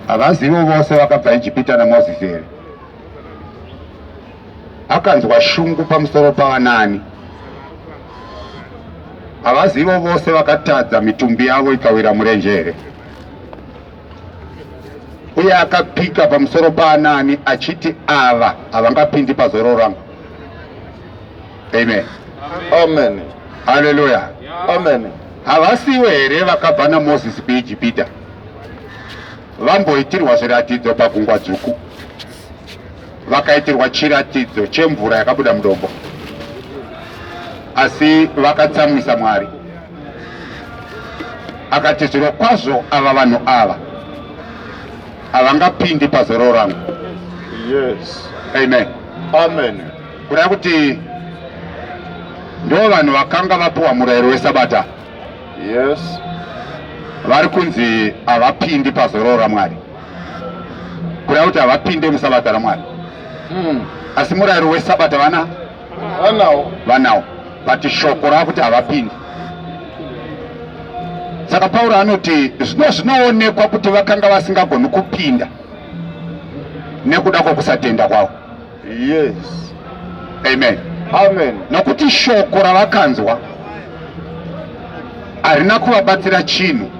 havazivo vose vakabva ijipita namozisi here akanzwa shungu pamusoro pavanani havazivo vose vakatadza mitumbi yavo ikawira murenje here uye akapika pamusoro paanani achiti ava havangapindi pazororo rangu amen amen haleluya amen havasivo here vakabva namozisi kuijipita vamboitirwa zviratidzo pagungwa dzvuku vakaitirwa chiratidzo chemvura yakabuda mudombo asi vakatsamwisa mwari akati zviro kwazvo ava vanhu ava havangapindi pazororo rangu yes. amen amen kureva kuti ndo vanhu vakanga vapiwa murayiro wesabata yes vari kunzi havapindi pazororo ramwari kureva kuti havapinde musabata ramwari hmm. asi murayiro wesabata vana vanawo vanawo but shoko rava kuti havapindi saka pauro anoti zvino zvinoonekwa kuti vakanga vasingagoni kupinda nekuda kwokusatenda kwavo yes amen amen nokuti shoko ravakanzwa harina kuvabatsira chinhu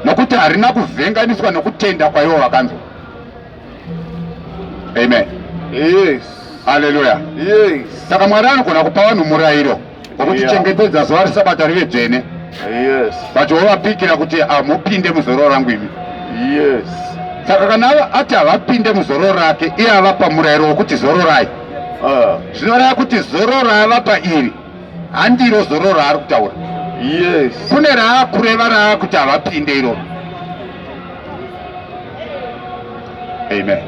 nokuti harina kuvhenganiswa nokutenda kwaivo vakanzwa amen yes haleluya yes saka mwari anogona kupa vanhu murayiro Vakutichengetedza zuva reSabata rive dzvene. Yes. Vachiovapikira kuti hamupinde muzororo rangu imi. Yes. Saka kana ati havapinde muzororo rake, iye avapa murayiro wokuti zororai. Ah. Zvinoreva kuti zororo raavapa iri handiro zororo raari kutaura. Yes. Kune raakureva raakuti havapinde iroro. Amen.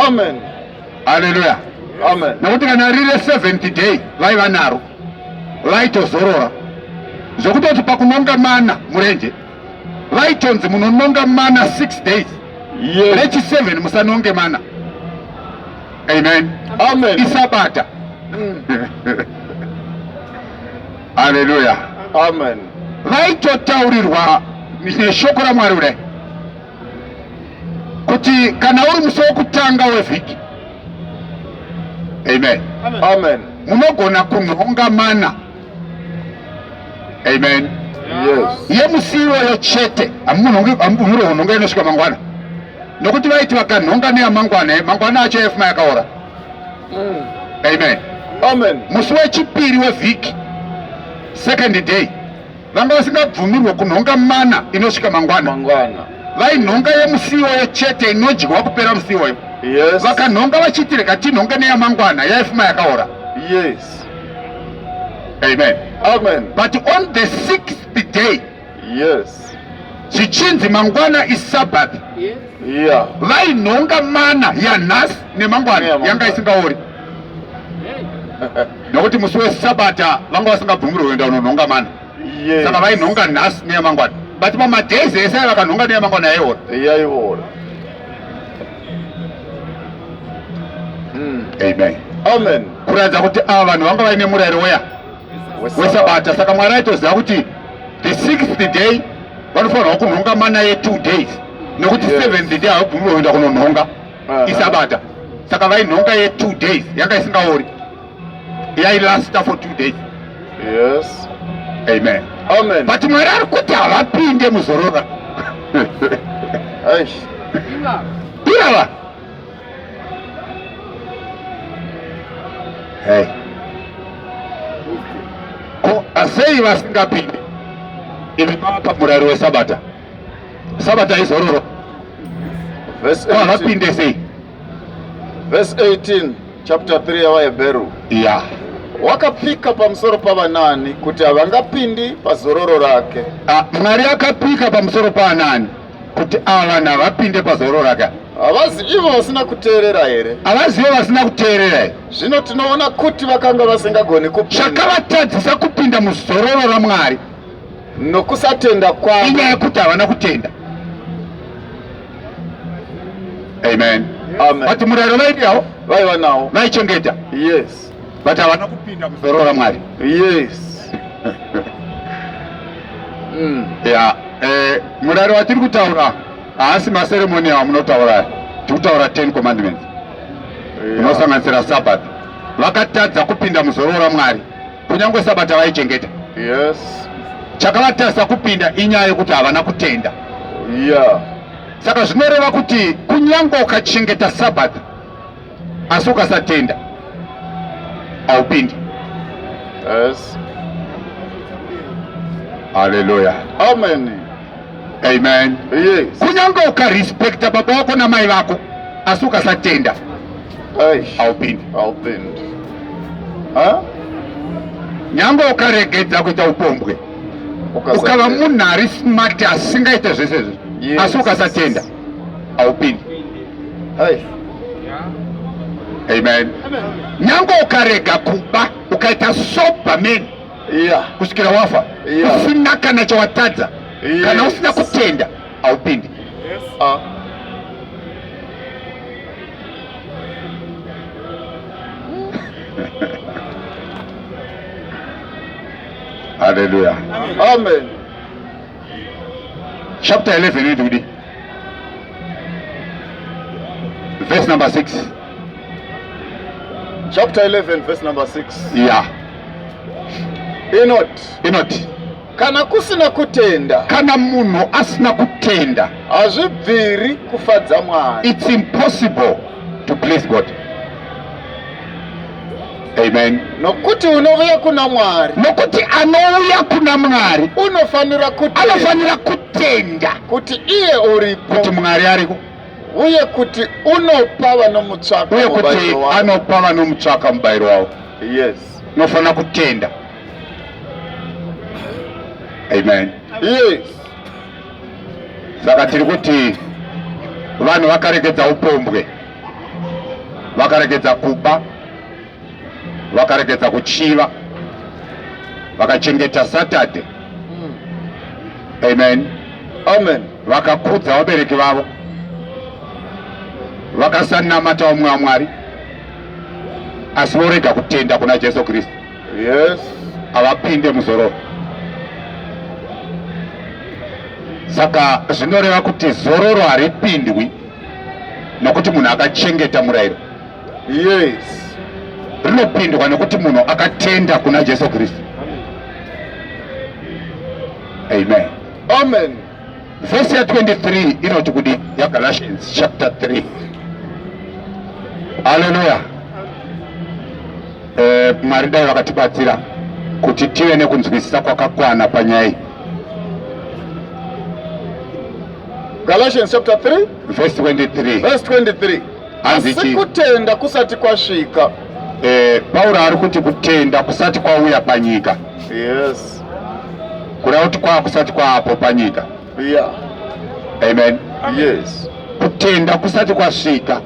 Amen. haleluya nokuti kana riri re70 day vaiva naro vaitozorora zvokutoti pakunonga mana murenje vaitonzi munononga mana 6 days rechi 7 musanonge mana amen amen isabata mm. haleluya amen vaitotaurirwa neshoko ramwari kudai kuti kana uri musi wokutanga wevhiki amen amen munogona kunhonga mana amen yes yemusi iwoyo chete hamumunhonge kunhonga inosvika mangwana nokuti vaiti vakanhonga neyamangwana eh, mangwana acho yafuma yakaora mm. amen amen musi wechipiri wevhiki second day vanga vasingabvumirwe kunhonga mana inosvika mangwana mangwana vainhonga yemusiwoyo chete inodyiwa kupera musiwoyo yes. vakanhonga vachiti rega tinhonge neyamangwana yaifuma yakaora yes. amen. amen but on the sixth day yes. zvichinzi mangwana isabbath yes. yeah. vainhonga mana yanhasi nemangwana yanga isingaori nokuti musi wesabata vanga vasingabvumirwe kuenda unonhonga mani yes. saka vainhonga nhasi neyamangwana but pamadays ese vakanhonga neyamangwana yaiora yaiora hmm. amen amen kuratidza kuti ava vanhu vanga vaine murayiro weya wesabata saka mwari aitoziva kuti the sixth day vanofanirwa kunhonga mana ye two days nekuti yes. seventh day havabvumirwe kuenda kunonhonga ah. isabata saka vainhonga ye two days yanga isingaori yailasta for two days yes amen amen but mwari ari kuti havapinde muzorora irava hey ko asei vasingapinde imi mava pamurari wesabata Sabata izororo. Verse 18. Vapinde sei? Verse 18 chapter 3 yaVaHebheru. Yeah. Wakapika pamusoro pavanani kuti havangapindi pazororo rake. Ah, Mwari akapika pamusoro pavanani kuti ava vanhu havapinde pazororo rake. Havazi ivo vasina kuteerera here? Havazive vasina kuteerera here? Zvino tinoona kuti vakanga vasingagoni kupinda. Zvakavatadzisa kupinda muzororo raMwari. nokusatenda kwavo. Inyaya yekuti havana kutenda. Amen. Amen. But murayiro vaidiyawo vaiva nawo vaichengeta. Yes. But havana kupinda kuzorora Mwari. Yes. mm. Yeah. Eh, murayiro watiri kutaura haasi maseremoni amunotaura tiri kutaura 10 commandments inosanganisira yeah. Sabbath vakatadza kupinda muzorora Mwari. kunyangwe sabata vaichengeta yes chakavatasa kupinda inyaya yekuti havana kutenda yeah saka zvinoreva kuti kunyangwe ukachengeta sabata asi ukasatenda haupindi yes haleluya amen Amen. Yes. Kunyange ukarespecta baba wako namai vako asi ukasatenda haupindi. Haupindi. Huh? Nyange ukaregedza kuita upombwe ukava munhu ari smart asingaite zvese izvi yes. asi ukasatenda haupindi. Hey. Amen. Amen. Nyange ukarega kuba ukaita sober man yeah. kusvikira wafa yeah. usina kana chawatadza yes. kana usina kutenda haupindi yes. uh. haleluya amen chapter 11 inoiti kudi verse number 6 chapter 11 verse number 6 yeah inoti inoti kana kusina kutenda kana munhu asina kutenda hazvibviri kufadza mwari it's impossible to please god amen nokuti unouya kuna mwari nokuti anouya kuna mwari unofanira kuti anofanira kutenda kuti iye uripo kuti mwari ariko uye kuti unopa vanomutsvaka uye kuti anopa vanomutsvaka mubayiro wavo Yes. Unofanira kutenda. Amen. Yes. Saka tiri kuti vanhu vakaregedza upombwe, vakaregedza kuba, vakaregedza kuchiva, vakachengeta Saturday. Mm. Amen. Amen. Vakakudza vabereki vavo, vakasanamata umwe waMwari. asi vorega kutenda kuna jesu kristu yes havapinde muzororo saka zvinoreva kuti zororo haripindwi nokuti munhu akachengeta murayiro yes rinopindwa nokuti munhu akatenda kuna jesu kristu amen amen Vhesi ya 23 inoti kudi yaGalatians chapter 3. Haleluya. Eh, Mwari dai vakatibatsira kuti tive nekunzwisisa kwakakwana panyaya iyi. Galatians chapter 3 Vhesi 23. verse 23. Asi Hanzichi kutenda kusati kwasvika. eh, Pauro ari kuti kutenda kusati kwauya panyika. Yes. kureva kuti kwava kusati kwaapo panyika yeah. amen yes kutenda kusati kwasvika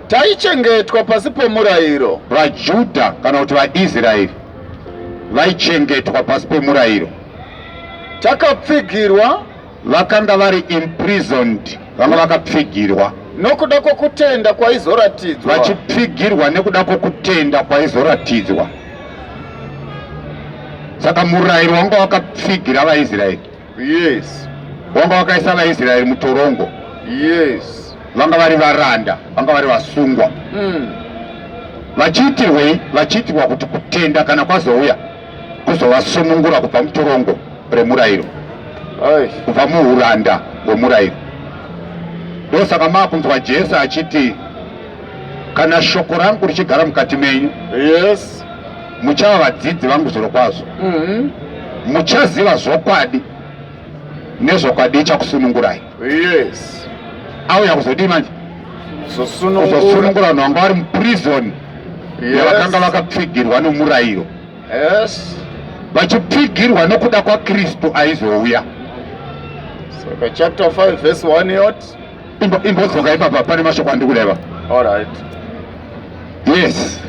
taichengetwa pasi pomurayiro vajudha kana kuti vaisraeri vaichengetwa pasi pomurayiro takapfigirwa Vakanga vari imprisoned, vanga vakapfigirwa. Nokuda kwokutenda kwaizoratidzwa. Vachipfigirwa nekuda kwokutenda kwaizoratidzwa. Saka murayiro wanga wakapfigira vaIsraeri. Yes. Wanga wakaisa vaIsraeri mutorongo. Yes. Vanga vari varanda, vanga vari vasungwa. Mm. Vachiitirwei? Vachiitirwa kuti kutenda kana kwazouya kuzovasunungura kubva mutorongo remurayiro kubva muuranda hwemurayiro ndosaka maakunzwa jesu achiti kana shoko rangu richigara mukati menyu yes muchava vadzidzi vangu zviro kwazvo mm -hmm. muchaziva zvokwadi nezvokwadi ichakusunungurai Yes. Auya kuzodii manje? Kuzosunungura vanhu vanga vari muprison yavakanga vakapfigirwa nomurayiro. Yes. Vachipfigirwa nokuda kwaKristu aizouya. Saka chapter 5 verse 1 yot. Imbodzoka ipapa pane mashoko andikureva. All right. Yes.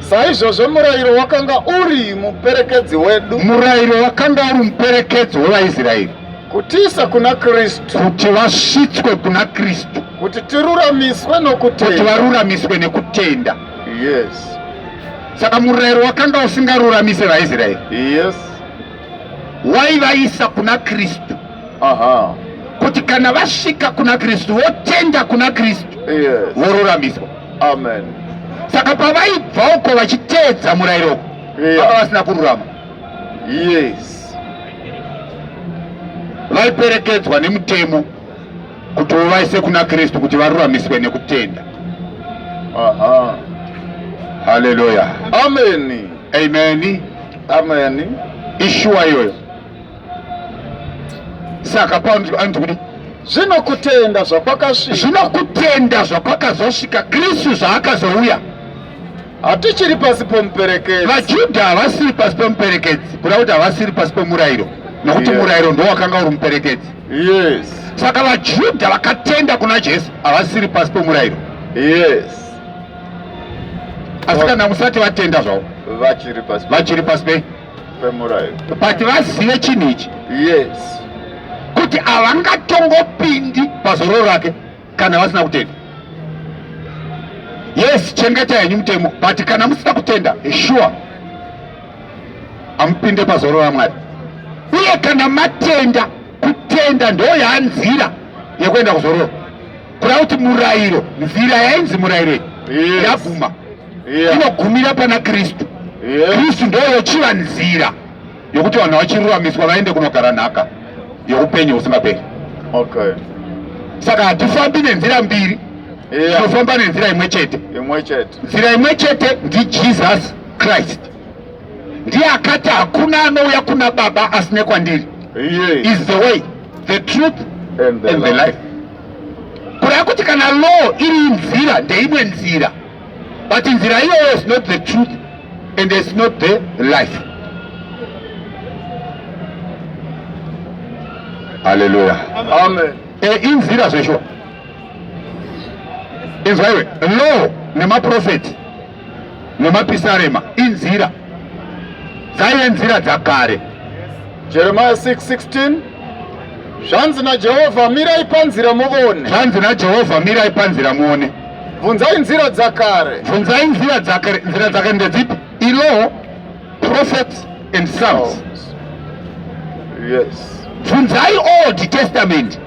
Saizvozvo murayiro wakanga uri muperekedzi wedu. Murayiro wakanga uri muperekedzi wevaIsraeri. Kutiisa kuna Kristu. Kuti vasvitswe kuna Kristu. Kuti tiruramiswe nokutenda. Kuti varuramiswe nekutenda. Yes. Saka murayiro wakanga usingaruramise vaIsraeri. Yes. Waivaisa kuna Kristu. Aha. Kuti kana vasvika kuna Kristu votenda kuna Kristu. Yes. Voruramiswa. Amen. Saka pavaibva uko vachiteedza murayiro uko vanga vasina kururama. Yes. Vaiperekedzwa nemutemo kuti uvaise kuna Kristu kuti varuramiswe nekutenda. Aha. Hallelujah. Amen. Amen. Amen. Ishuwa iyoyo. saka paundi anoti kudi zvino kutenda zvakwakasvika zvino kutenda zvakwakazosvika kristu zvaakazouya hatichiri pasi pomuperekedzi vajudha havasiri pasi pomuperekedzi kuda kuti havasiri pasi pomurayiro nokuti yeah. murayiro ndo wakanga uri muperekedzi yes saka vajudha vakatenda kuna jesu havasiri pasi pomurayiro yes asi kana musati vatenda zvavo vachiri pasi pei kwemurairo but vazive chinhu ichi yes kuti havangatongopindi pazororo rake kana vasina kutenda yes chengeta henyu mutemo but kana musina kutenda sure amupinde pazororo ramwari uye kana matenda kutenda ndo yanzira yekuenda kuzororo kuda kuti murayiro nzira yainzi murayiro yaguma yes. inogumira pana kristu kristu ndoyo chiva nzira yokuti vanhu vachiruramiswa vaende kunogara nhaka youpenyu husingaperi okay. saka hatifambi nenzira mbiri tinofamba yeah. nenzira imwe chete nzira imwe chete ndijesus christ ndiye akati hakuna anouya kuna baba asine kwandiri yeah. is the way the truth and the, and the life, life. kureva kuti kana law iri nzira ndeimwe nzira but nzira iyoyo is not the truth and is not the life haleluya amen e inzira zveshuwa inzwaiwe law nemaprofeti nemapisarema inzira dzaive nzira dzakare jeremiya 616 zvanzi najehovha mirai panzira muone zvanzi najehovha mirai panzira muone bvunzai nzira dzakare bvunzai nzira dzakare nzira dzakare ndedzipi ilaw prophets and psalms yes bvunzai old testament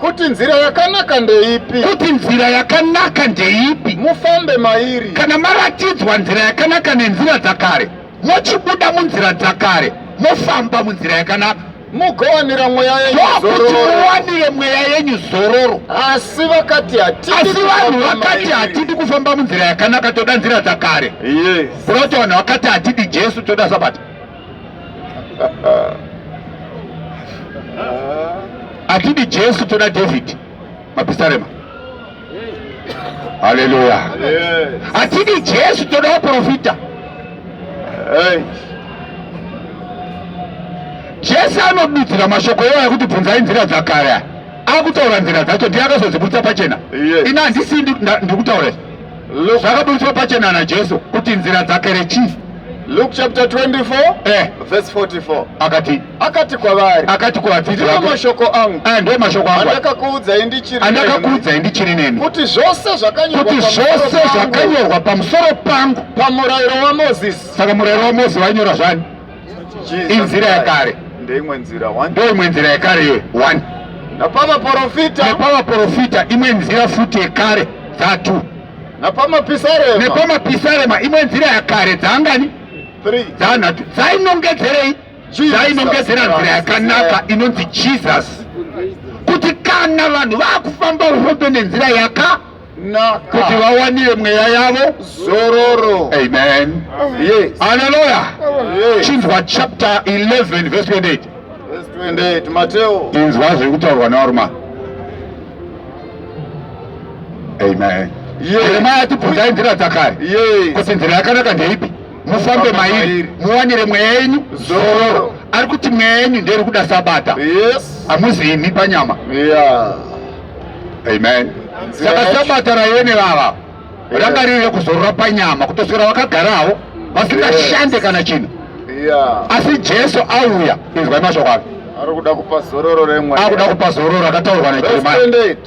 kuti nzira yakanaka ndeipi kuti nzira yakanaka ndeipi mufambe mairi kana maratidzwa nzira yakanaka nenzira dzakare mochibuda munzira dzakare mofamba munzira yakanaka mugowanira mweya yenyu zororo ndokuti muwanire mweya yenyu zororo asi vakati hatidi asi vanhu kufamba vakati mairi. hatidi kufamba munzira yakanaka toda nzira dzakare yes kuroti vanhu vakati hatidi jesu toda sabata hatidi jesu toda david mapisarema haleluya hatidi jesu toda waprofita jesu anodudzira mashoko iwayo ekuti bvunzai nzira dzakare akutaura nzira dzacho ndiye akazodzibudisa pachena ina handisi ndikutaura zvakaburitswa pachena najesu kuti nzira dzakere chii luke chapter 24 eh. verse 44 akati akati kwavari akati kwavadzidzi ndiwo vake mashoko angu aya ndiwo mashoko angu aya, andakakuudzai ndichiri nemi, andakakuudzai ndichiri nemi kuti zvose kuti zvakanyorwa pamusoro zvose pangu zvakanyorwa pamusoro pangu pamurayiro wamozisi saka murayiro wamosi wainyora zvani Jesus inzira Christ. yekare. ndeimwe nzira one ndo imwe nzira yekare iyoyo one napamaporofita nepavaprofita imwe nzira futi yekare dzatu napamapisarema nepamapisarema imwe nzira yakare dzaangani three dzaanhatu dzainongedzerei zvainongedzera nzira yakanaka inonzi jesus kuti kana vanhu vakufamba ufambe nenzira yaka kuti vawanire mweya yavo zororo amen haleluya chinzwa chapter 11 verse 28 inzwa zviri kutaurwa naorma amen jeremaya atibvunzai nzira dzakare kuti nzira yakanaka ndeipi mufambe mairi muwanire mweya yenyu zororo ari kuti mweya yenyu nderi kuda sabata hamuzi imi panyama amen saka sabata raive nevava ranga riri rekuzorora panyama kutoswera vakagarawo vasingashande kana chinhu asi jesu auya inzwai mashoko ake akuda kupa zororo remweya akuda kupa zororo akataurwa najeremia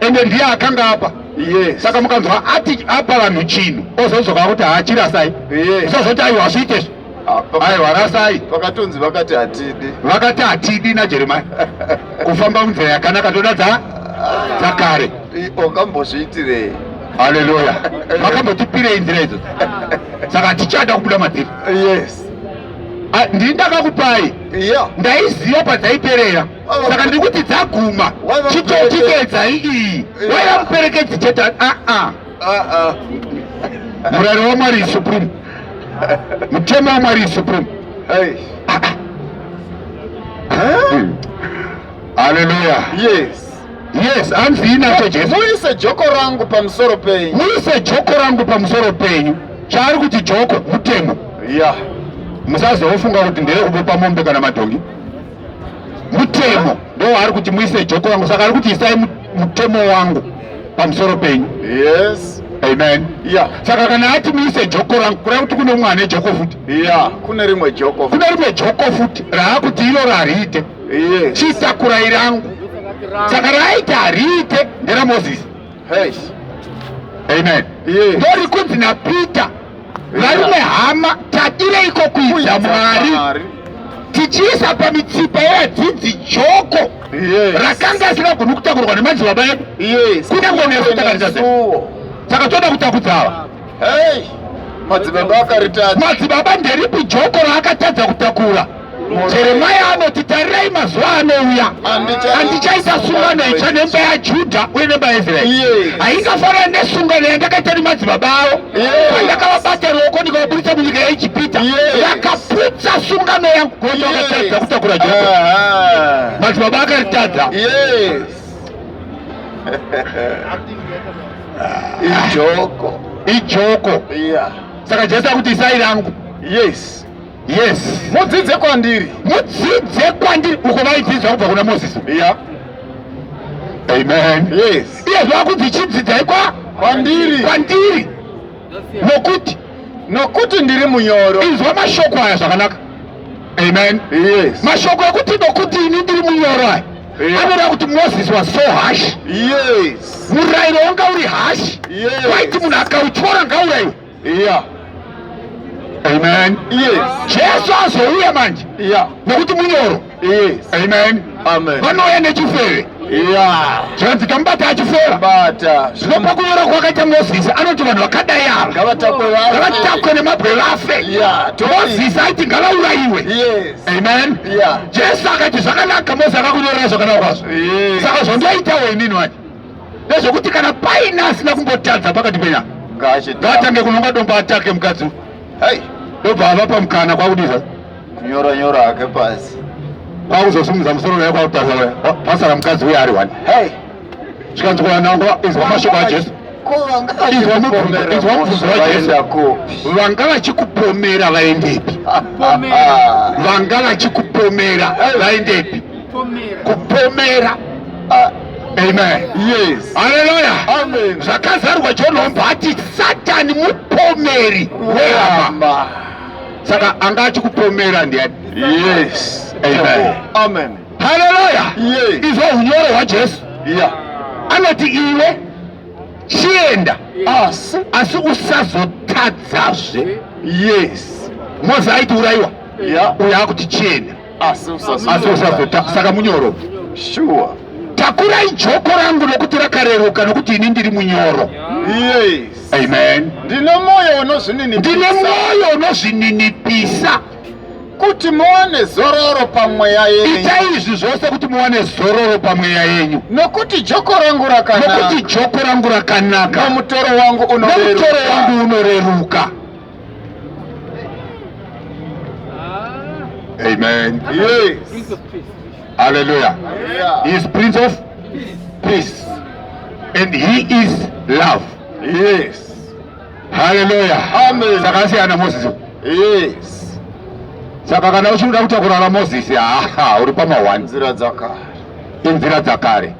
ende ndiye akanga apa yes. saka mukanzwa ati apa vanhu chinhu ozodzoka kuti haachirasai yes. usazoti aiwa hazviite zvo ah, aiwa rasai vakatonzi vakati hatidi vakati hatidi najeremia kufamba munzira yakanaka toda dza dzakare wakambozviitirei haleluya vakambotipirei nzira idzo saka tichada kubuda madziri yes ah, ndini ndakakupai yeah. ndaiziva padzaiperera saka ndiri kuti dzaguma chitotipedzai iyi waiva muperekedzi chete aa ah, ah. ah, murari wamwari supreme mutemo wamwari supreme haleluya yes yes hanzi inacho jesu muise joko rangu pamusoro penyu muise joko rangu pamusoro penyu chaari kuti joko mutemo ya musazofunga kuti ndeyekubepa mombe kana madhongi mutemo ndo ari kuti muise joko wangu saka ari kuti isai mutemo wangu pamusoro penyu yes amen yeah. saka kana ati muise joko rangu kureva kuti kune umwe ane joko futi yeah. kune rimwe joko kune rimwe joko futi raakuti iro rariite yes. chitakurai rangu saka raaiti hariite nderamozisi hey. amen yeah. ndorikunzi napeter Varume hama, tadireiko kuita Mwari tichiisa pamitsipa yevadzidzi joko rakanga asingagoni kutakurwa nemadzibaba edu kunyange nesu takarita saka toda kutakudza ava madzibaba akaritadza madzibaba nderipi joko raakatadza kutakura jeremia anoti tarirai mazuva anouya andichaisa sungano itsva nemba yajudha uye nemba yaisraeri haingafanana nesungano yandakaita nemadzibaba avo pandakavabata ruoko ndikavaburitsa munyika yaijipita vakaputsa sungano yangu kuti vakatadza kutakura judha madzibaba akaritadza ijoko ijoko saka jesu akuti isai rangu yes yes mudzidze kwandiri mudzidze kwandiri uko vaidzidza kubva kuna mozisi iya amen yes iye zvakunzi chidzidzai kwa kwandiri kwandiri nokuti nokuti ndiri munyoro inzwa mashoko aya zvakanaka amen yes mashoko ekuti nokuti ini ndiri munyoro aya anoda kuti moses was so harsh yes murayiro wanga uri harsh waiti munhu akautyora ngauraiwe iya amen jesu azouya manje nekuti munyoro amen vanouya nechifeve zvanzi kamubata achifera zvino pakunyora kwakaita mozisi anoti vanhu vakadai ava ngavatakwe nemabwe vafe mozisi aiti ngavaurayiwe amen jesu akati zvakanaka mozisi akakunyorera zvakanaka kwazvo saka zvandoitawo inini wani ndezvekuti kana paina asina kumbotadza pakati penya ngaatange kunonga domba atake mukadzi hai ndobva ava pamukana kwakudisa kunyora nyora hake pasi kwakuzosumudza musoro naye kwakutasa pasara mukadzi uye ari wani hai zvikanzi kuvanangwa izwa mashoko ajesu izwa mubvunzo wajesu vanga vachikupomera vaendepi vanga vachikupomera vaendepi kupomera ah, amen yes haleluya amen zvakazarwa john hombe ati satani mupomeri wehama saka anga achikupomera ndiani yes amen amen haleluya yes izvo unyoro hwajesu yeah anoti iwe chienda asi asi usazotadzazve yes mozi aiti uraiwa yeah uya akuti chienda asi usazoda saka munyoro sure takurai joko rangu nokuti rakareruka nokuti ini ndiri munyoro yes amen ndine mwoyo unozvininipisa ndine mwoyo unozvininipisa kuti muwane zororo pamweya yenyu itai izvi zvose kuti muwane zororo pamweya yenyu nokuti joko rangu rakanaka nokuti joko rangu rakanaka nomutoro wangu unoreruka Amen. Yes. Prince of Peace. Hallelujah. Yeah. He is Prince of Peace. And he is love. Yes. Hallelujah. Amen. Sakasiyana Moses. Yes. Saka kana uchida kutakura na Moses, aha, uri pama one. Nzira dzakare. Inzira dzakare.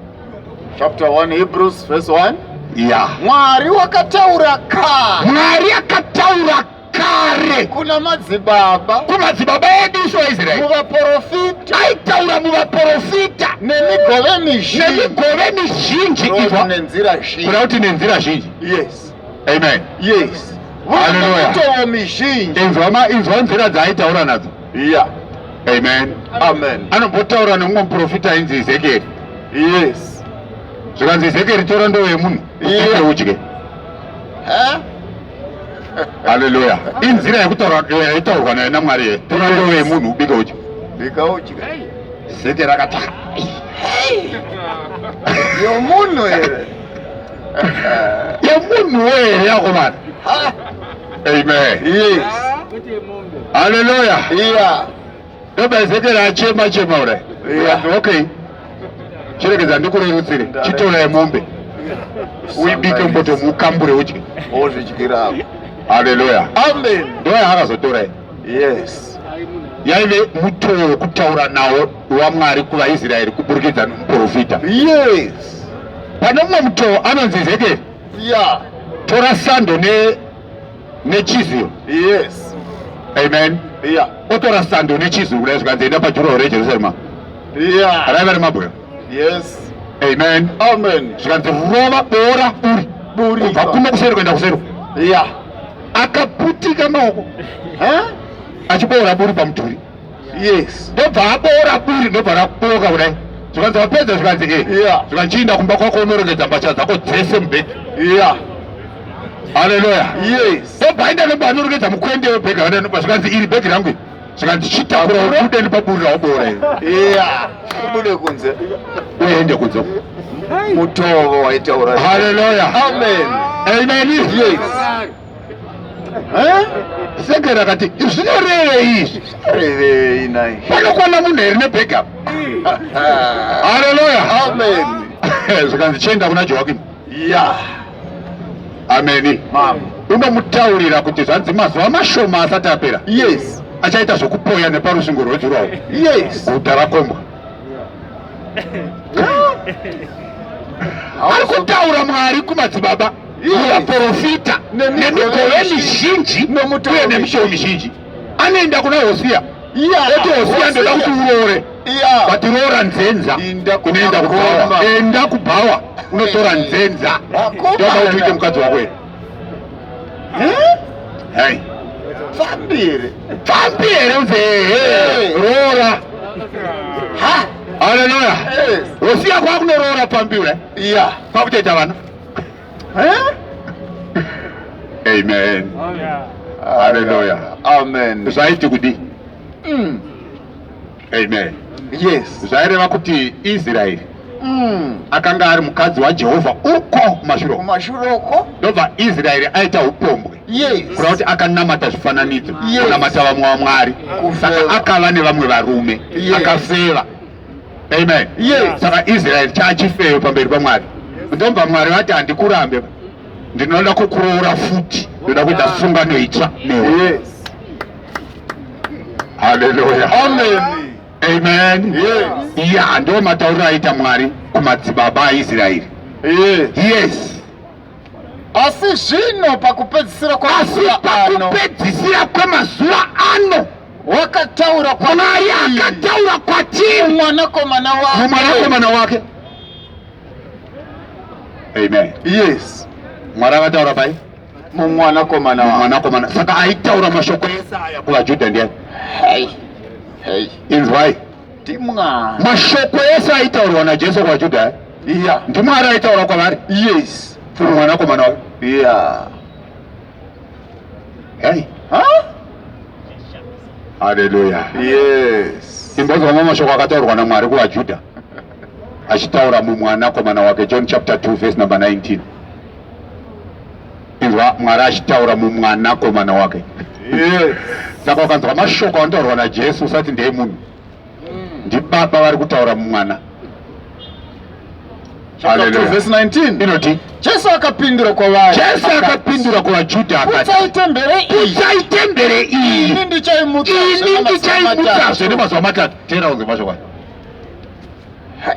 chapter 1 hebrews verse 1 ya mwari wakataura ka mwari akataura kare kuna madzibaba kumadzibaba edu isu vaisraeri muvaporofita aitaura muvaporofita nemigove mizhinji nemigove mizhinji Kureva kuti iva nenzira zhinji kuda kuti nenzira zhinji yes amen yes Hallelujah. mitovo mizhinji inzwa ma- inzwa nzira dzaaitaura nadzo Yeah. Amen. Amen. Anombotaura nemumwe muprofita ainzi Ezekiel. Yes. Zvikanzi Ezekiel tora ndoo yemunhu. Yeah. Udye. Huh? Hallelujah. Inzira yekutaura yaitaurwa naye naMwari ye. Tora ndoo yemunhu ubike udye. Bika udye. Ezekiel akata. Yomunhu here. Yomunhu here yakomana. Amen. Yes. Hallelujah. Yeah. Ndoba Ezekiel achema chema ure. Yeah. Okay. Chiregedza ndikurerutsire. Chitora yemombe. Uibike mboto mukambure udye. Ozvidyira hapo. Hallelujah. Amen. Ndoya hakazotora. Yes. yaive mutoo wekutaura nawo wamwari kuvaisraeri kuburikidza nomuprofita yes pane mumwe mutoo anonzi ezekieri Yeah. Tora sando ne nechiziro. Yes. Amen. Yeah. Otora sando nechiziro kudai zvikanzi enda pajuraho reJerusarema. Yeah. Raiva remabwe. Yes. Amen. Amen. Zvikanzi rova bora buri. Buri. Kubva kuno kuseri kuenda kuseri. Yeah. Akaputika maoko. Huh? Achiboora buri pamudhuri. yes ndobva aboora buri ndobva rakuboka kudai zvikanzi wapedza zvikanzi e eh. yeah. zvikanzi chiinda kumba kwako unorongedza mbatya dzako dzese mubheki yeah haleluya yes ndobva aenda nobva anorongedza mukwende webheki aendanoba zvikanzi iri bheki rangu zvikanzi chitakura ubude ndipaburira waboora yeah ubude kunze uende kunze mutovo waitaura haleluya amen amen yes seke rakati zvinorevei izvi zvinorevei nai panokwana munhu here nebackup haleluya amen zvikanzi chienda kuna joakim ya ameni mama unomutaurira kuti zvanzi mazuva mashoma asati apera yes achaita zvokupoya neparusvingo rwejurawo yes guta rakombwa ari kutaura mwari kumadzibaba muvaprofita nemigove mizhinji uye nemishowo mizhinji anoenda kuna hosiya oti hosiya ndoda kuti uroore but roora nzenza unoenda kubhawa enda kubhawa unotora nzenza ndoda kuti uite mukadzi wako here hai pfambi here pfambi here nzee roora haleluya hosiya kwakunoroora pfambi ura kwakutoita vana Eh? Amen. Hallelujah. Amen. Zvaiti kudi. Mm. Amen. Yes. Zvaireva kuti Israel mm. akanga ari mukadzi waJehovha uko mashuro. Mashuro uko. Ndobva Israel aita upombwe. Yes. Kura kuti akanamata zvifananidzo. Yes. Kunamata vamwe vamwari. Saka akava nevamwe varume. Yes. Akafeva. Amen. Yes. Saka Israel chachifeyo pamberi paMwari. Ndobva Mwari vati handikurambe. Ndinoda kukuroora futi. Ndoda kuita sungano itsva newe. Yes. Hallelujah. Amen. Amen. Yes. Yeah, ndio matauriro aita Mwari kumadzibaba aIsraeri. Yes. Yes. Asi zvino pakupedzisira kwamazuva ano, pakupedzisira kwemazuva ano wakataura kwamari akataura kwatiri mwanakomana wake mwanakomana wake amen yes mwari akataura pai mumwanakomana mwanakomana saka aitaura mashoko ese aya kuvajudha ndiani inzwai mashoko ese aitaurwa najesu kwajuda yeah. ndimwari aitaura kwavari yes through mwanakomana wake yeah. hey. huh? haleluya yes. imbozwama mashoko akataurwa namwari kuvajuda achitaura mumwanakomana wake john chapter 2 verse number 19 Inzwa Mwari achitaura mumwana komana wake. Yes. Saka ukanzwa mashoko anotaurwa naJesu usati ndeye munhu. Mm. Ndibaba vari kutaura mumwana. Chapter 2 verse 19. Inoti Jesu akapindura kwavari. Jesu akapindura kuvaJudha akati. Kutsai tembere iyi. Kutsai tembere iyi. Ini ndichaimutsa. Ini ndichaimutsa. Zvene mazuva matatu. Tera unzwe mashoko. Hai.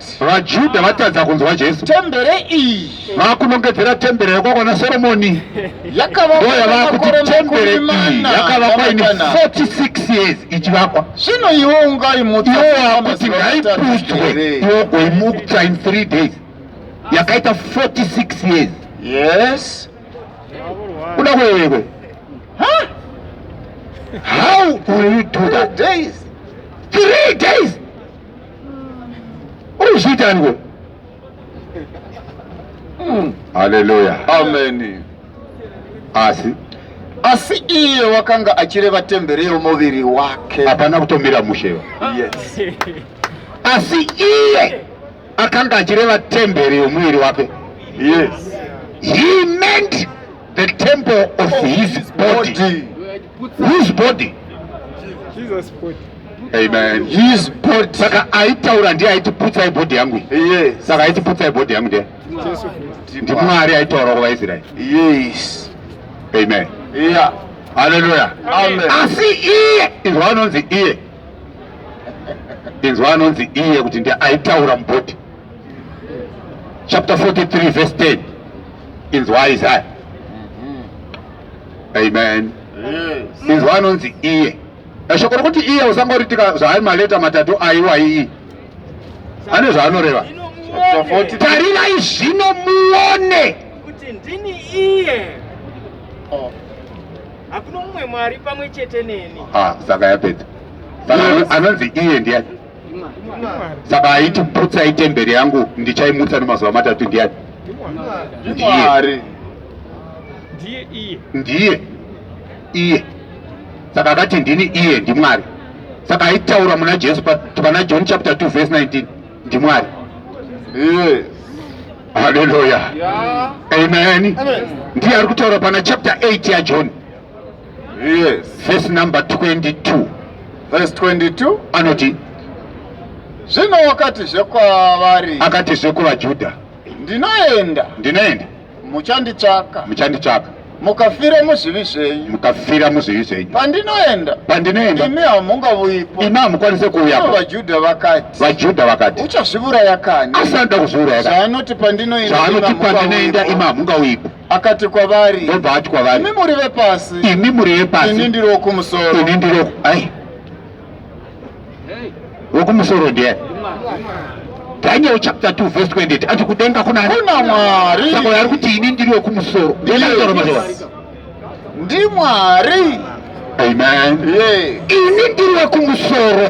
VaJudha vatadza kunzwa Jesu. Tembere iyi vakunongedzera tembere yokwakwana Soromoni ndoyavakuti iyi yakavakwa ini 46 years ichivakwa zvino iwe ungaimutsa iwe wakuti ngaiputswe iwe goimutsa in 3 days yakaita 46 years yes kuda kwewewe how will you do that days 3 days uri kuzviita niwe hmm. haleluya ameni asi asi iye wakanga achireva temberi yomuviri wake hapana kutomira mushewa yes. asi iye akanga achireva temberi yomuviri wake yes. he meant the temple of his body, body. His body. Jesus body. Amen. His body. Saka aitaura ndiye aiti putsai body yangu. Yes. Saka aiti putsai body yangu ndiye. Jesu. Ndi Mwari aitaura kwa Israel. Yes. Amen. Yeah. Hallelujah. Amen. Asi iye inzwa anonzi iye. Inzwa anonzi iye kuti ndiye aitaura mubody. Chapter 43 verse 10. Inzwa Isaiah. amen inzwa anonzi iye shoko rokuti iye usangoritika zvaari maleta matatu aiwa iyi ane zvaanoreva tarirai zvino muone kuti ndini iye oh. hakuna mumwe mwari pamwe chete neni ah, saka yapedza anonzi iye ndiani saka aiti putsa itemberi yangu ndichaimutsa nemazuva matatu ndiyani ndiye ndiye iye ndiye iye saka akati ndini iye ndimwari saka aitaura muna jesu pana john chapter 2 verse 19 ndimwari yes. haleluya yeah. amen ndiye ari kutaura pana chapter 8 yajohn yes verse number 22 verse 22 anoti zvino wakati zvekwavari akati zvekuvajudha ndinoenda ndinoenda muchanditsvaka muchanditsvaka mukafira muzvivi zvenyu mukafira muzvivi zvenyu pandinoenda pandinoenda imi hamungavuyipo imi hamukwanise kuuyapo vajudha vakati vajudha vakati uchazviuraya kani asanoda kuzviuraya kani zvaanoti pandinoenda zvaanoti pandinoenda imi hamungauyipo akati kwavari ndobva ati kwavari imi muri vepasi imi muri vepasi ini ndiri wokumusoro ini ndiri ai wokumusoro ndiye daniel chapter 2 verse 28 ati kudenga kuna kuna mwari saka ari kuti ini ndiri wokumusoro ndimwari amen ini ndiri wokumusoro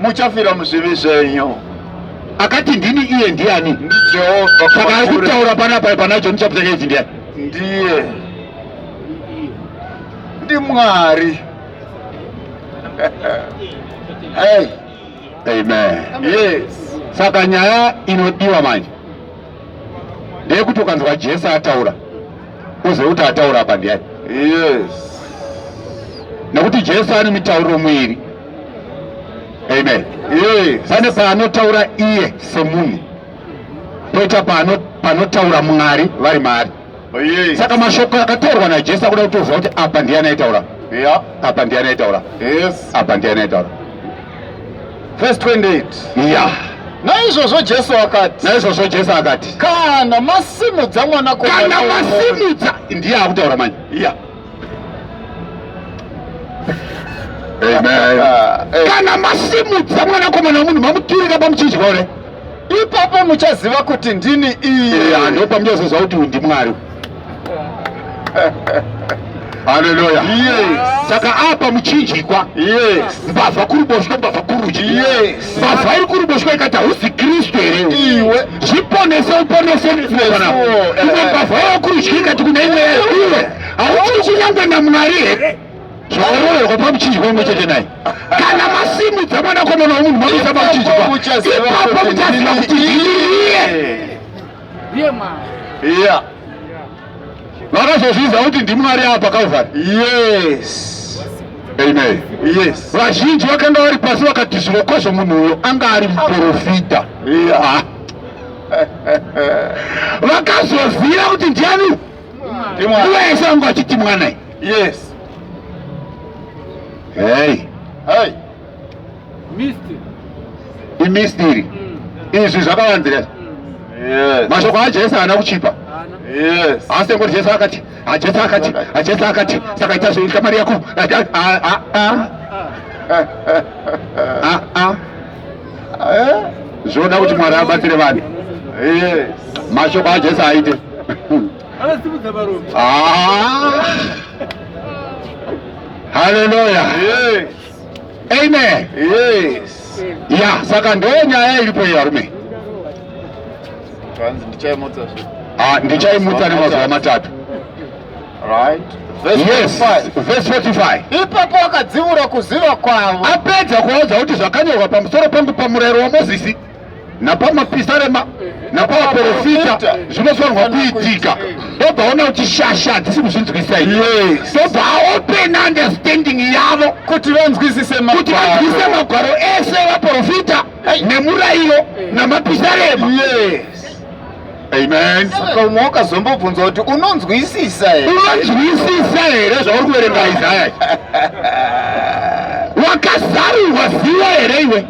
muchafira muzvivi zvenyu akati ndini iye ndiani ndijehovha saka ari kutaura panapa pana john chapter 8 ndiani ndiye ndimwari hey. amen yes saka nyaya inodiwa manje ndeyekuti ukanzwa jesu ataura uzive kuti ataura apa ndiyani yes nekuti jesu ane mitauro muiri amen yes. pane paanotaura iye semunhu poita panotaura mwari vari maari saka mashoko akataurwa najesu akuda kutoziva kuti apa ndiye anaitaura apa ndiye anaitaura apa ndiye anaitaura vhesi 28 ya naizvozvo jesu akati naizvozvo jesu akati kana masimudza mwanakokana masimudza ndiye akutaura manje ya kana masimudza mwanakomana wemunhu mamuturika pamuchidya ure ipapo muchaziva kuti ndini iye anhu eh, pamuchazozva kuti uyu ndimwari haleluya saka apa muchinjikwa mbavha kuri boshwe mbavha kurudyi mbavha iri kuruboshwa ikati hausi kristu here iwe zviponese uponese mwana imwe mbavha yakurudyi ikati kuna imwe yayo iwe hauchiri kunyangwe namwari here zvaoroverwa pamuchinjwa imwe chete naye kana masimudza mwanakomana womunhu makuisa pamuchinjwa ipapo muchaziva kuti ndiye yeah. vakazozviziva kuti ndimwari ava pakauvhara yes amen yes vazhinji vakanga vari pasi vakati zvirokwazvo munhu uyo anga ari muprofita yeah. vakazoziva kuti ndiani nguva yese vanga vachiti mwanai yes hey. Hey. imist iri mm. izvi zvakavanzira mm. mashoko ajesu haana kuchipa asi ngoti jesu akati ajesu akati ajesu akati saka ita zvoita mari yako zvoda kuti mwari abatsire vanhu mashoko ajesu aite haleluya Amen. Yes. Ya, saka ndo nyaya iripo iyo varume. Kanzi ndichaimutsa zve. Ah, ndichaimutsa nemazuva matatu. Right. Yes, verse 45. Ipapo akadziura kuziva kwavo. Apedza kuvaudza kuti zvakanyorwa pamusoro pangu pamurayiro waMozisi. napamapisarema napamaporofita zvinofanirwa kuitika togaona kuti shasha hadzisi kuzvinzwisisa iye tobva aopen understanding yavo kuti vanzwisise kuti vanzwisise magwaro ese evaporofita nemurayiro namapisarema yes. Amen. Saka umwe wakazombobvunza kuti unonzwisisa here? Unonzwisisa here zvauri kuverenga Isaya? Wakazarirwa ziva here iwe?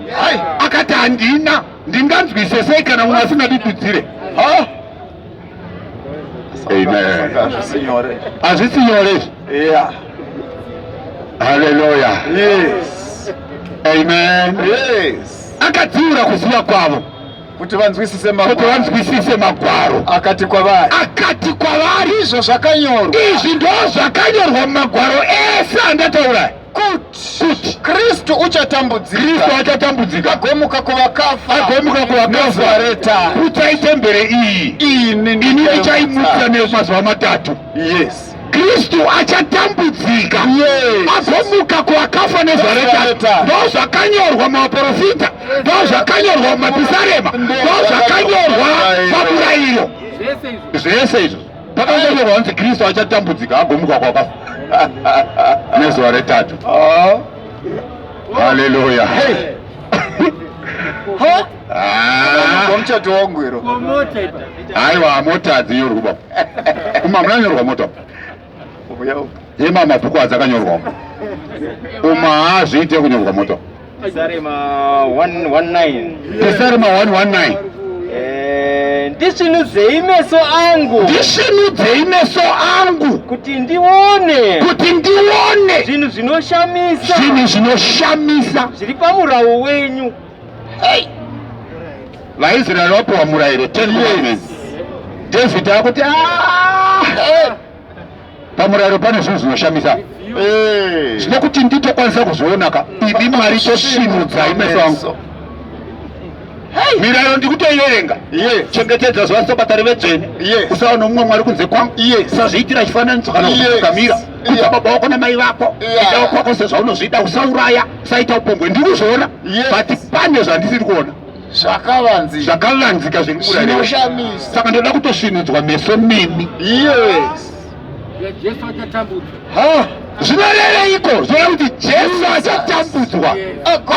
Akati handina, ndinganzwise sei kana umwe asingandidudzire? Amen. Hazvisi nyore. Hazvisi nyore. Yeah. Hallelujah. Yes. Amen. Yes. Akadziura kuziva kwavo. kuti vanzwisise magwaro, kuti vanzwisise magwaro. Akati kwavari, akati kwavari, izvo zvakanyorwa, izvi ndozvakanyorwa mumagwaro ese andataura kuti kristu uchatambudzika kristu achatambudzika agomuka kuvakafa agomuka kuvakafa reta kutai tembere iyi ini ndichaimuka nemazuva matatu yes Kristu achatambudzika azomuka kuakafa nezaretani ndoo zvakanyorwa muvaprofita ndoo zvakanyorwa mumapisarema ndoo zvakanyorwa pamurayiro zvese izvo pakanyorwa hanzi kristu achatambudzika agomuka kwakafa nezuva retatu haleluya Ah. Pamuchato wangu iro. Aiwa mota adzinyorwa baba. Uma munanyorwa mota. Uya. Yema mabhuku adzakanyorwa. Uma hazviite kunyorwa mota. Desarema 119. Desarema 119. Eh, ndisvinudzei meso angu ndisvinudzei meso angu kuti ndione kuti ndione zvinhu zvinoshamisa zvinhu zvinoshamisa zviri pamurawo wenyu Hey. VaIsrael vapiwa murayiro 10 commandments. David akuti ah! pamurayiro pane zvinhu zvinoshamisa eh. zvine kuti nditokwanisa kuzvionaka ini mwari tosimudzai meso angu mirayiro ndikutoierenga chengetedza zuva sobatari vedzvene usaona mumwe mwari kunze kwangu usazviitira chifananidzo kana kukamira uta baba wako namai vako ida wakwako sezvaunozvida usauraya saita upombwe ndiri kuzviona but pane zvandisiri kuona zvakavanzi zvakavanzika zviri kuurainoshamisa saka ndoda kutosvinudzwa meso mimi yes jesu achatambudzwa ha zvinorereiko zvona kuti jesu achatambudzwa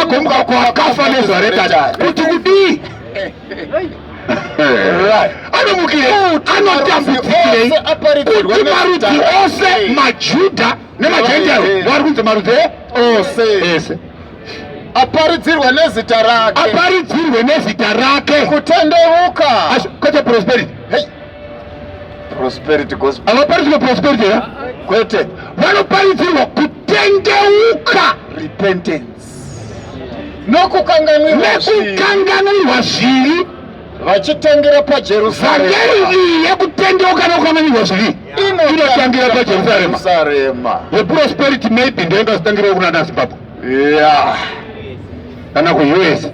agomuka kwakafa nezuva redada kuti kudii anomukire anotambudzikirei kuti marudzi ose majuda nemagentile vari kunzi marudzi ose ese aparidzirwe nezita rake aparidzirwe nezita rake kutendeuka kwete prosperity hey. prosperity gospel avaparidzirwe prosperity ya kwete vanoparidzirwa kutendeuka repentance nokukanganwirwa zvivi vachitangira pajerusarema vhangeri iyi yekutendeuka nokukanganwirwa zvivi inotangira pajerusarema the prosperity maybe ndiyo ingazitangirawo kuna nazimbabwe yeah kana kuus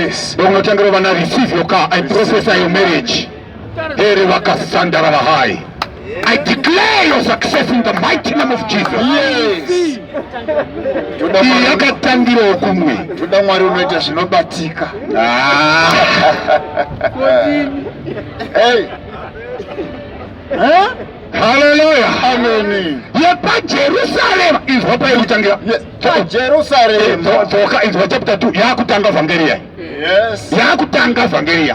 yes ndokunotangira vana receive your car i prophesy your marriage Here vakasandara vahai. I declare your success in the mighty name of Jesus. Yes. Iyi yakatangirawo kumwe. Toda Mwari unoita zvinobatika. Ah. Hey. Huh? Hallelujah. Amen. Yepa Jerusalem inzwa pai kutangira. Yes. Pa Jerusalem. Dzoka inzwa chapter 2 yakutanga vhangeri. Yes. Yakutanga vhangeri.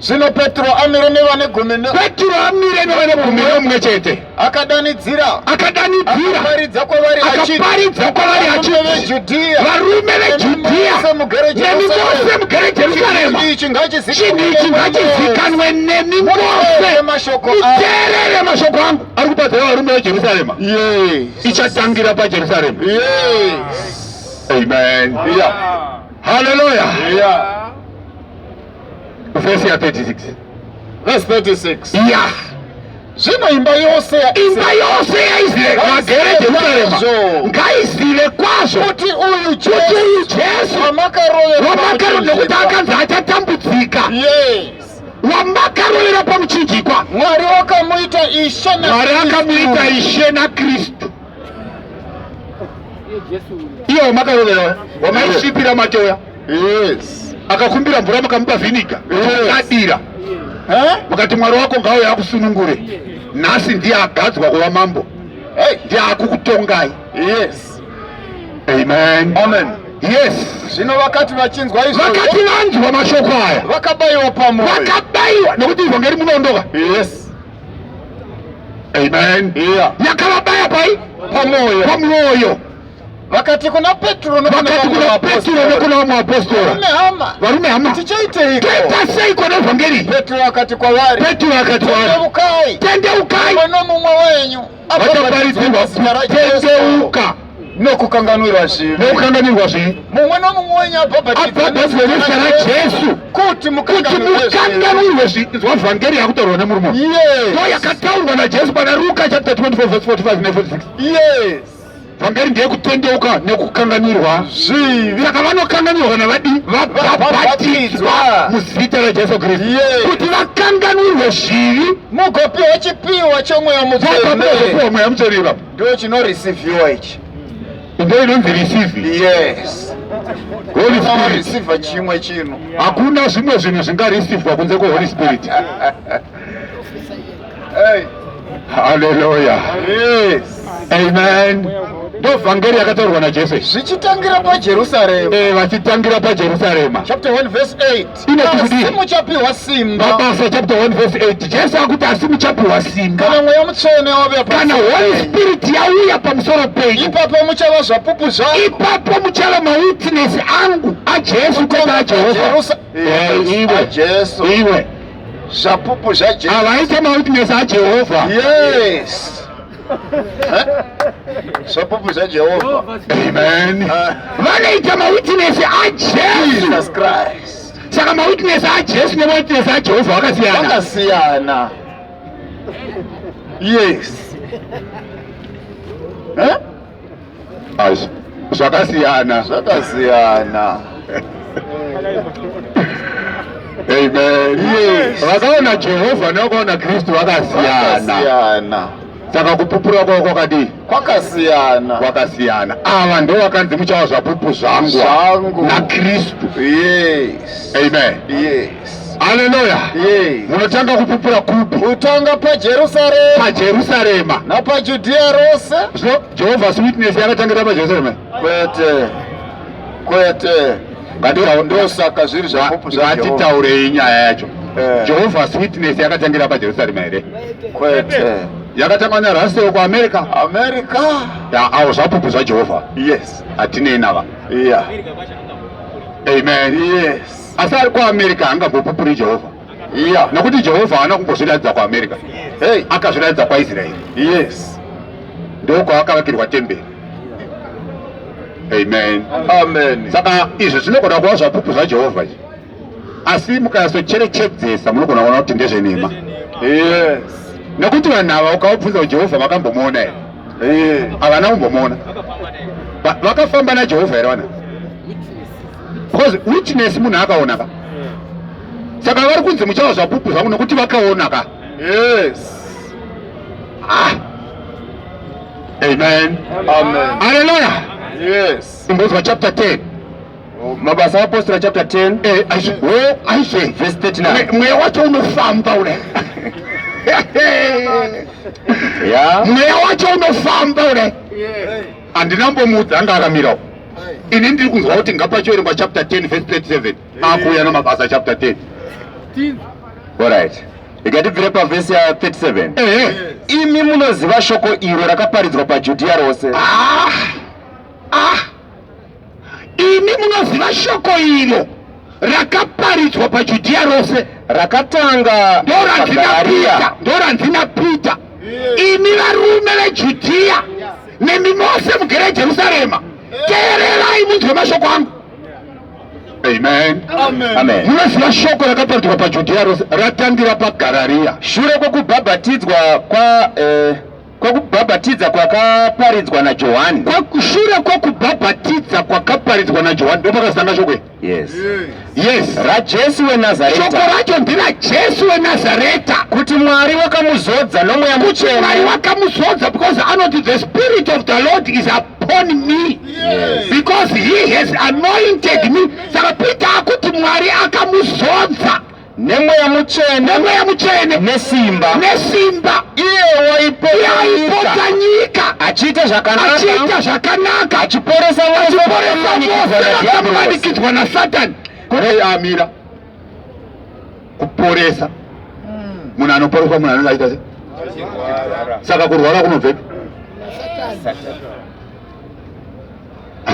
Zvino Petro amire nevane gumi no... Petro amire nevane gumi nomwe chete. Akadanidzira. Akadanidzira. Akaparidza kwavari achiti. Akaparidza kwavari achiti. Varume veJudhia. Varume veJudhia. Nemi mose mugere Jerusalema. Chinhu ichi ngachizikanwe nemi mose. Muteerere mashoko angu. Ari kupatsira varume veJerusalema. Yes. Ichatangira paJerusalema. Yes. Amen. Yeah. Hallelujah. Yeah. vhesi ya 36 vhesi 36 ya zvino imba yose imba yose yaisraeri vagere jerusarema ngaizive kwazvo kuti uyu jesu wamakarovera nekuti akanzi achatambudzika wamakarovera pamuchinjikwa mwari wakamuita ishe mwari akamuita ishe nakristu iye wamakarovera wamaisvipira matoya yes akakumbira mvura mukamupa vhiniga adira mukati mwari wako ngawo yakusunungure nhasi ndiye agadzwa kuva mambo ndiye akukutongai yes amen amen yes zvino vakati vachinzwa izvo vakati vanzwa mashoko aya vakabayiwa pamoyo vakabayiwa nokuti ivhangeri munoondoka yes amen yeah. yakavabaya pai pamoyo pamoyo vakati kuna peturo nokuna vamwe vapostora varume hama tichaiteiko seiko nevhangeri peturo akati kwavari peturo akati kwavari tendeukai nomumwe wenyu vachaparidzirwa kutendeuka nokukanganwirwa zvivi nokukanganwirwa zvivi mumwe nomumwe wenyu abhabhatidzwa nezita rajesu kuti mukanganwirwe zvivi zwa vhangeri yakutaurwa nemurume iyo yakataurwa najesu pana ruka chapter 24 verse 45 ne 46 yes pamberi ndiye kutendeuka nekukanganwirwa zvivi saka vanokanganwirwa navadi vabhabhatidzwa muzita rajesu kristu kuti vakanganwirwe zvivi mugopiwa chipiwa chomweya muzopiwa mweya mutsvene ipapo ndo chinorisivhiwa ichi ndo inonzi risivi yes horisivha chimwe chino hakuna zvimwe zvinhu zvingarisivhwa kunze kweholy spirit Hey. Haleluya. Yes. Amen. Ndio vhangeri yakataurwa na Jesu. Zvichitangira pa Jerusalem. Eh, vachitangira pa Jerusalem. Chapter 1 verse 8. Inotidii? Asi muchapiwa simba. Mabasa chapter 1 verse 8. Jesu akuti asi muchapiwa simba. Kana mweya mutsvene wave pa. Kana Holy Spirit yauya pamusoro penyu. Ipapo muchava zvapupu zvangu. Ipapo muchava ma witness angu a Jesu kwete a Jehovha. Jerusalem. Eh, iwe. Jesu. Iwe. zvapupu zvajehovha avaite mawitness ajehovha yes zvapupu zvajehovha amen ah. vanoita mawitness ajesus christ saka mawitness ajesu nemawitness ajehovha vakasiyana vakasiyana yes huh? Ash. Zvakasiyana. Zvakasiyana. Amen. Yes. Vakaona Jehovha nekuona Kristu vakasiyana. Vakasiyana. Saka kupupura kwavo kwakadii? Kwakasiyana. Kwakasiyana. Ava ndo vakanzi muchawa zvapupu zvangu Zvangu. naKristu. Yes. Amen. Yes. Haleluya. Munotanga kupupura kupi? Kutanga paJerusarema. PaJerusarema. NapaJudhiya rose. So Jehovah's Witness yakatangira paJerusarema? Kwete. Kwete. Ndosaka zviri zvapupu zvaJehovha. Ngatitaurei nyaya yacho. Eh. Jehovah's Witness yakatangira paJerusarema here? Kwete. Yakatanga naRussell kuAmerica. America. Ya, awo zvapupu zvaJehovha. Yes. Hatinei nava. Yeah. Amen. Yes. asi ari kuamerica haangambopupuri jehovha yeah. nokuti jehovha haana kumbozviratidza kuamerica hey. akazviratidza kwaisraeri yes ndokwaakavakirwa temberi amen amen saka izvi zvinogona kuva zvapupu zvajehovha izvi asi mukayasocherechedzesa munogona kuona kuti ndezvenhema yes nekuti vanhu ava ukavabvunza kuti jehovha vakambomuona here eh. havana kumbomuona vakafamba najehovha here vana because witness munhu akaona ka saka vari kunzi muchawa zvapupu zvangu nokuti vakaona ka yes ah. amen aleluya yes imbozwa chapter 10 mabasa apostora chapter 10 eh, oh, aizve verse 39 mweya wacho unofamba ule mweya wacho unofamba ule Handina mbomuudza anga akamira uko. Ini ndiri kunzwa kuti ngapachiverengwa chapter 10 verse 37 akuuya namabasa chapter 10. Alright. Ikatibvire pavhesi ya 37. Ehe. Imi munoziva shoko iro rakaparidzwa paJudhiya rose. Ah! Ah! Imi munoziva shoko iro rakaparidzwa pajudhiya rose rakatanga ndoranzina ndoranzi napeter imi varume vejudhiya nemi mose mugere jerusarema teererai munzwe mashoko angu amen munoziva shoko rakaparidzwa pajudhiya rose ratangira pagarariya shure kwokubhabhatidzwa kwa eh, kwokubhabhatidza kwakaparidzwa najohani kwakushure kwokubhabhatidza kwakaparidzwa najohani ndopakazitanga shoko yes yes rajesu wenazareta shoko racho ndirajesu wenazareta kuti mwari wakamuzodza nomweya muchena mwari wakamuzodza because anoti the spirit of the lord is upon me yes. because he has anointed me saka peter akuti mwari akamuzodza nemweya mutsvene nemweya mutsvene nesimba nesimba iye waipota nyika achiita zvakanachiita zvakanaka achiporesa vaamanikidzwa nasatani kurei amira kuporesa hmm. munhu anoporeswa munhu anenge aita se saka kurwara kunobvepi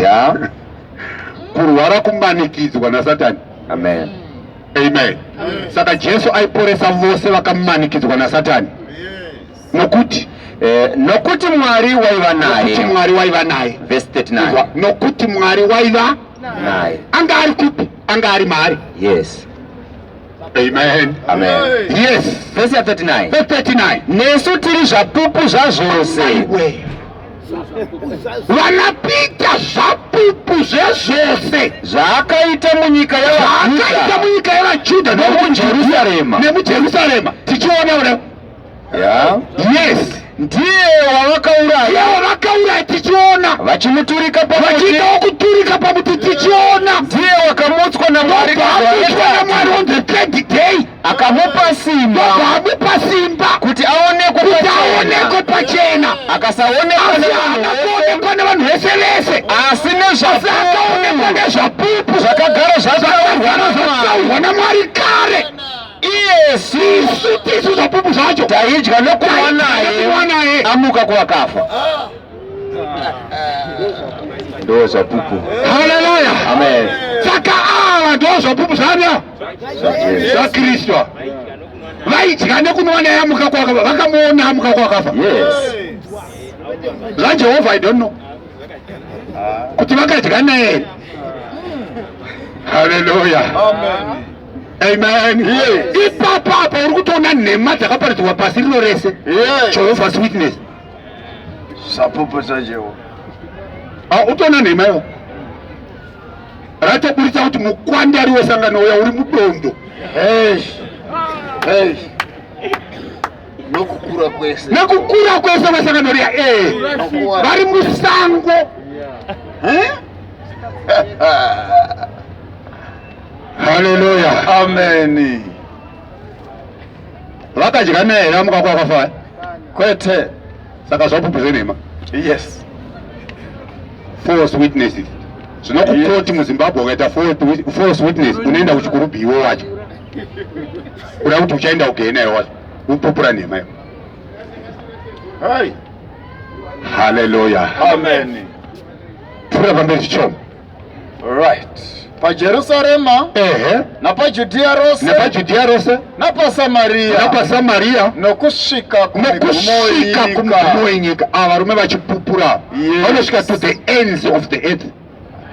ya kurwara kumanikidzwa nasatani amen amen saka jesu aiporesa vose vakamanikidzwa nasatani nokuti Eh, nokuti mwari waiva naye mwari waiva naye vhesi 39 nokuti mwari waiva naye anga ari kupi anga ari maari yes Amen. Amen. Yes. Verse 39. Verse 39. Nesu tiri zvapupu zvazvose. vanapita zvapupu zvezvose zvaakaita munyika yavaakaita munyika yevajudha nemujerusarema nemujerusarema tichiona ure yes ndiye wavakauraya wavakauraya tichiona vachimuturika vachiita wokuturika pamuti tichiona ndiye wakamutswa namwari namwari on the third day akamupa simba akamupa simba kuti aonekwe pachena akasaonekwa nevanhu vese vese asi nezvakaonekwa nezvapupu zvakagara zvataurwa namwari kare iyesu isu tisu zvapupu zvacho taidya nokuva naye amuka kuvakafa ndo zvapupu haleluya amen saka ava ndo zvapupu zvanya zvakristwa vaidya nekunwa naye amuka kwakafa vakamuona amuka kwakafa zvajehovha i don't know kuti vakadya naye here haleluya amen ipapo apa uri kutoona nhema dzakaparidzwa pasi rino rese jehovhas witness sapopota jehovha ah, utoona nhema iwo ratoburitsa kuti mukwandari wesangano uya uri mudondo nokukura kwese nokukura kwese kwesangano riya ee vari musango haleluya ameni vakadya neera mukakwa kwafaya kwete saka zvapupu zvenhema yes false witnesses zvino kukoti muzimbabwe ukaita false witness unoenda kuchikuru biwo wacho kuda kuti uchaenda kugei nayo wacho upupura nhema yo haleluya pfuura pamberi chichomo Right. PaJerusarema. Ehe. NapaJudhiya rose. NapaJudhiya rose. NapaSamaria. NapaSamaria. Nokusvika kunokusvika kumugumo wenyika. Ava varume vachipupura. Yes. Vanosvika to the ends of the earth.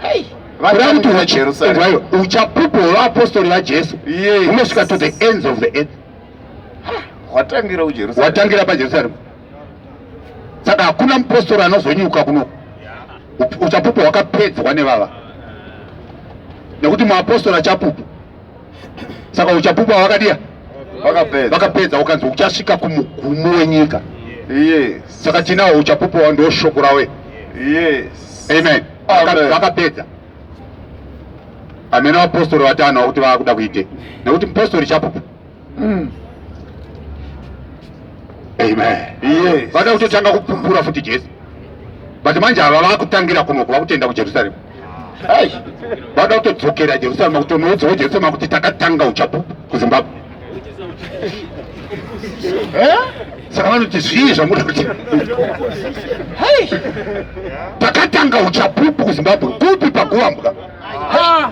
Hey. uchapupu hwevapostori vajesu unosvika to the ends of the earth watangira pajerusalem saka hakuna mupostori anozonyuka kuno uchapupu hwakapedzwa nevava nekuti muapostori achapupu saka uchapupu hwakadiya vakapedza ukanzi uchasvika kumugumo wenyika saka tinawo uchapupu hwa ndo shoko rawe amen vakapedza amene vapostori vatano vakuti vava kuda kuite nekuti mupostori chapupu mm. Amen. Yes. Vada kutotanga kupumbura futi Jesu. But manje ava vakutangira kuno kuva kutenda kuJerusalem. Hey. Vada kutodzokera Jerusalem kutonoudzawo Jerusalem kuti takatanga uchapu kuZimbabwe. Eh? Saka vanoti zvii zvamuda kuti. Hey. Takatanga uchapupu kuZimbabwe. Kupi pakuwambwa? Ha.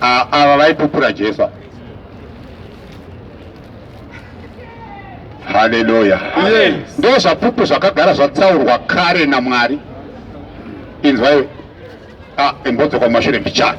Ava vaipupura Jesu. Haleluya. Ndoo zvapupu zvakagara zvatsaurwa kare naMwari. Inzwai. Ah, imbodzoka mumashure mbichana.